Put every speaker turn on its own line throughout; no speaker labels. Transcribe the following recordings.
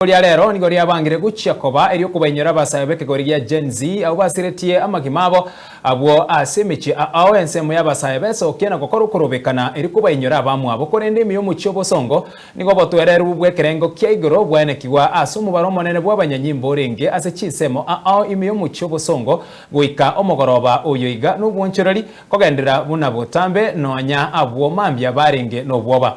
Rirorio ria rero nigo riabangire gochia koba eri'okobainyora abasae b'ekegori gia Gen Z, abwo basiretie amagima abo. Abwo ase emechie ao ensemo y'abasae besokia na gokora okorobekana eri kobainyora abamwabo, korende ime y'omochie obosongo nigo obotwererwe bw'ekerengo kia igoro bwaenekigwa ase omobaro omonene bw'abanyanyimbo orenge ase chinsemo ao ime y'omochie obosongo goika omogoroba oyo iga nobwonchoreri kogenderera buna botambe nonya abwo mambia barenge nobwoba.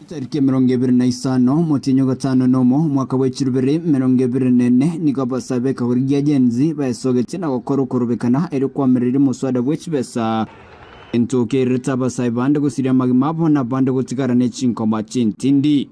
Etariki emerongo
ebere na isano, omotienyi o gatano na omo, omwaka bwe chirubere emerongo ebere na ene, nigo abasae b'ekegori gia Gen Z baesogetie na gokora okorobekana erio kwamererire omoswada bwe chibesa, egento okeirerete abasae bande gosiria amagima abo na abande gotigara ne chinkoma chintindi.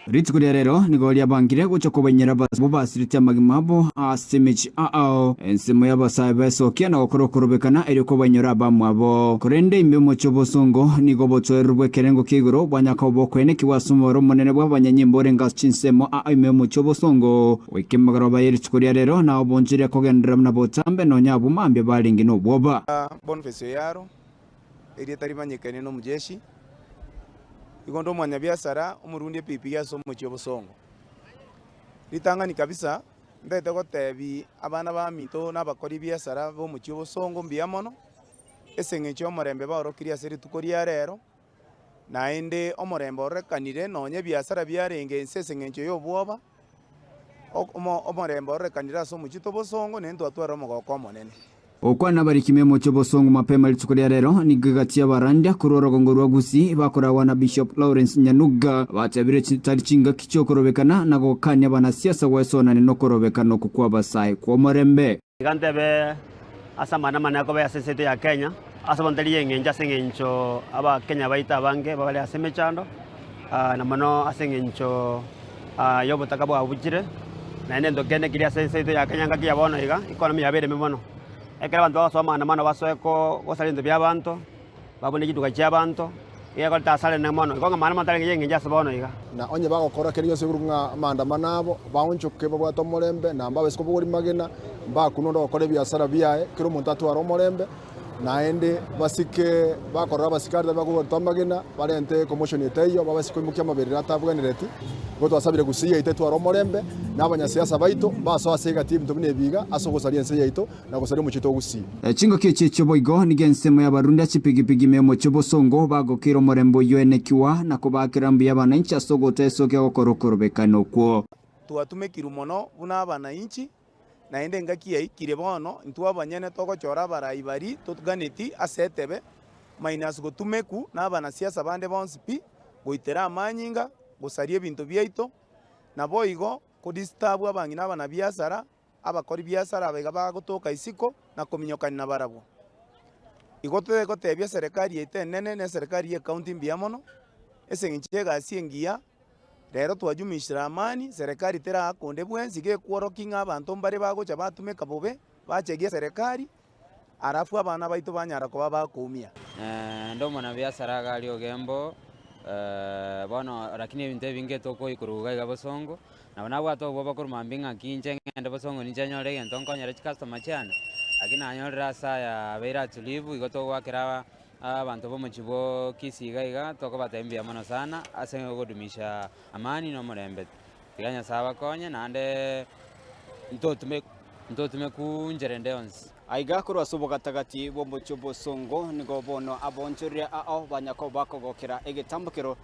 Rituko ria rero nigo riabangire gocha kobainyera abasibwa bobasirete amagima abo ase emechie aao. Ensemo y'abasae baesokia na gokora okorobekana erio kobainyore abamwabo. Korende imbe moche obosongo, nigo obotoereru bw'ekerengo kia igoro bwanyakoba okoenekigwa ase omobaro omonene bw'abanyanyimbo orenge ase chinsemo aa ime omochie obosongo. Goika emegoroba ye rituko ria reero, nao bonchire kogenderera buna botambe, nonya abwo mambia barenge nobwoba. Bonifesi o Yaro,
erieta rimanyekane n'Omojeshi, igo onde omwanyabiasara omorundi epipiri ase omochie obosongo. Ritang'ani kabisa, mbete gotebi abana baminto na abakori biasara b'omochie obosongo mbuya mono, ase eng'encho y'omorembe baorokirie ase rituko ria reero. Naende omorembe ororekanire, nonya ebiasara biarenge ense ase engencho y'obwoba, omorembe ororekanire ase omochie tobosongo, naende twatwarire omogoko omonene. Okwana abarikime
emochie obosongo mapema rituko ria rero nigo egachia abaranda korwa orogongo rwa Gusii bakoragwa na Bishop Lawrence Nyanuga abatebire chitari chingaki chi'okorobekana na gokania abanasiasa gwesonania nokorobekana oko kw'abasae kw'omorembe. Iga ntebe
ase amang'ana amane akobeyo ase ense yaito ya Kenya, ase abanto tari engencho ase engencho Abakenya baito abange bare ase emechando, na mono ase engencho y'obotaka bwabuchire, naende nento kende keri ase ense yaito ya Kenya ngaki ya bono iga, economy yabo ereme mono. Ekero abanto bagosoa amang'ana amano basoe gosaria ebinto bi'abanto. Babune chituga chi'abanto, ekiagera korenta ase arende mono, iko ng'a maandamano tarenge y'engencho ase bono iga. Na onye bagokora kende
gionsi igoro ng'a amaandamano abo, baonchoke babwate omorembe, na mbabe isiko bogori magena, mbakunwe onde ogokora ebiasara biaye, kera omonto atware omorembe. Naende basike bakorora abasikari tari bakobaruta amagena, barente commotion etaiyo, babe isiko imokia amaberero atabwenereti. Igo twasabire gusii yaito etware omorembe, na abanyasiasa baito mbasoe ase egati y'ebinto buna ebi iga ase ogosaria ense yaito, na gosaria omochie togusii. Chingaki echi echio
boigo nigo ensemo y'abarunda chipigipigi me omochie o Bosongo bagokeire omorembe oyio oenekigwa na kobaakera mbuya abananchi ase ogotoa esoki egokora okorobekana okwo. Twatumekirwe
mono buna abananchi, naende engaki yaikire bono intwe abanyene togochora abarai bari totganeti ase etebe, minus gotumeku nabanasiasa bande bonsi pi, goitera amanyinga, gosaria ebinto biaito, naboigo kodistabu abang'ina abanabiasara, abakori biasara abaiga bagotoka isiko na kominyokania nabarabwo. Igo totegotebia eserekari yaito enene na eserekari y'ekaunti mbuya mono, ase engencho y'egasi engiya, rero twajumishire amani, serekari terakonde bwensi, gekworoki ng'a abanto mbare bagocha batumeka bobe, bachegi eserekari, Alafu abana baito banyara koba ba koumia. Naende omonabii
asare iga aria ogembo bono, lakini ebinto ebinge tokoikorwa iga iga bosongo. Nabo nabwate obobakoru mambia ing'aki inche ng'ende bosongo ninche nyore egento nkonyere chicustomers chiane, lakini nanyorire ase aya abeire atulivu igo togoakera abanto bomochie bwo Kisii iga iga tokobatebia mbuya mono sana ase ogodumisha amani na omorembe. Tiga Nyasae abakonye, naende ntotume ntotume ku nchera ende yonsi. Aiga korwa ase
obogatagati bw'omochie bw'osongo nigo bono aboonchorire ao banya koba kogokera egetambokero,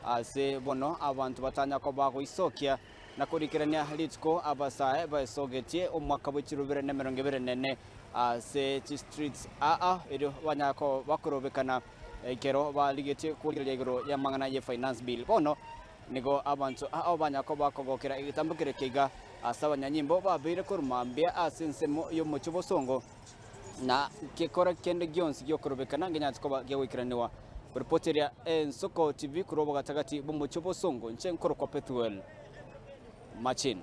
ase bono abanto batanya koba goisokia na korikerania rituko abasae baesogetie omwaka bwe chirobere na emerongo ebere nene ase chistreets aa erio banya koba korobekana ekero barigetie kworigereria igoro y'amang'ana ye finance bill. Bono. Nigo abanto ao banya koba kogokera egetambo keria keiga ase abanyanyimbo babeire korwa mambia ase ensemo y'omochie bosongo, na gekore kende gionsi gi'okorobekana ngenyarete koba giagoikeraniwa. Ripoti eria Ensoko TV korwa obogatagati bw'omochie bosongo, inche nkorokwa Pethuel Machin.